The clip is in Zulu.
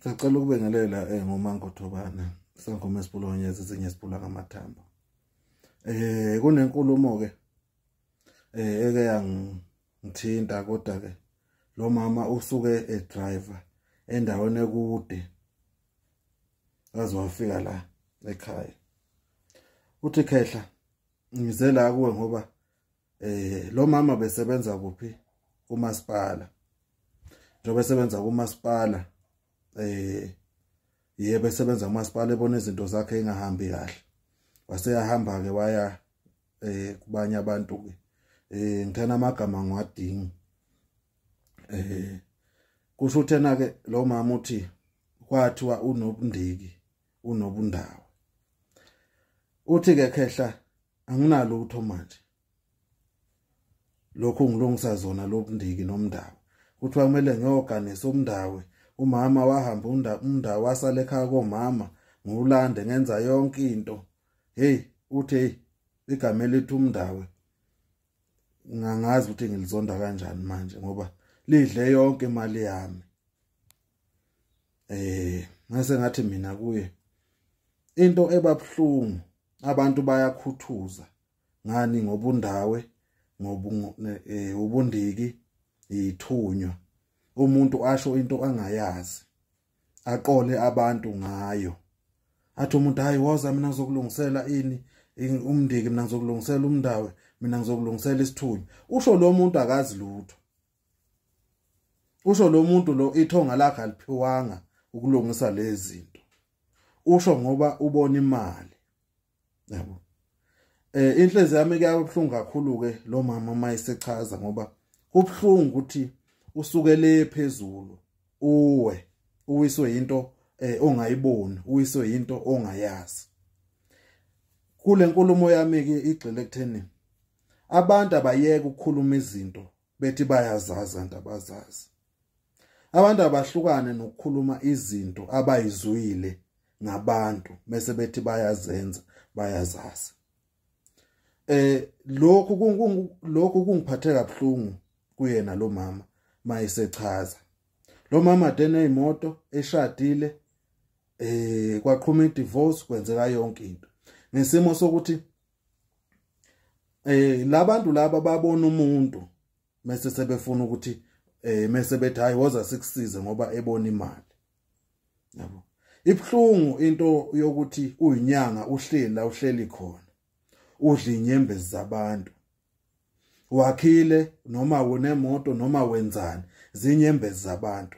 Sacela ukubengelela eh ngomango Thobana sangoma esibulonye ezinye sibula ngamathambo. Eh kunenkulumo ke eh eke yangithinta kodwa ke lo mama usuke e driver endaweni ekude azowafika la ekhaya uthi khehla ngize la kuwe ngoba eh lo mama besebenza kuphi kumasipala njengoba esebenza kumasipala eh yebo esebenza kumasipala ebona izinto zakhe engahambi kahle waseyahamba ke waya eh kubanye abantu ke eh ngithana amagama ngiwadingi eh kusho uthena ke lo mama uthi kwathiwa unobundiki unobundawo uthi ke khehla anginalutho manje lokho ngilungisa zona lobundiki nomndawo kuthiwa kumele ngiyoganisa umndawe umama wahamba umndawo wasala ekhaya komama ngiwulande ngenza yonke into hey uthi hey igama elithi umndawe ngangazi ukuthi ngilizonda kanjani manje ngoba lidle yonke imali yami eh ngase ngathi mina kuye into ebabhlungu abantu bayakhuthuza ngani ngobundawe ngobundiki eh, yithunywa umuntu asho into angayazi aqole abantu ngayo athi umuntu hayi woza mina ngizokulungisela ini umndiki mina ngizokulungisela umndawe mina ngizokulungisela isithunywa usho lo muntu akazi lutho usho lo muntu lo ithonga lakhe aliphiwanga ukulungisa lezi zinto usho ngoba ubona imali yabo eh inhlezi yami kuyabuhlungu kakhulu ke lo mama mayisechaza ngoba kubhlungu ukuthi usuke le phezulu uwe uwiswe into eh ongayiboni uwiswe into ongayazi kule nkulumo yami ke igxile kutheni abantu abayeke ukukhuluma izinto bethi bayazazi kanti abazazi abantu abahlukane nokukhuluma izinto abayizwile ngabantu bese bethi bayazenza bayazazi eh lokhu lokhu kungiphathe kabuhlungu kuyena lo mama mayisechaza lo mama dene imoto eshadile eh kwaqhuma idivorce kwenzeka yonke into ngesimo sokuthi eh labantu laba babona umuntu mase sebefuna ukuthi eh mase bethi hayi woza sikusize ngoba ebona imali yabo ibhlungu into yokuthi uyinyanga uhleli la uhleli khona udla inyembezi zabantu wakhile noma unemoto noma wenzani zinyembezi zabantu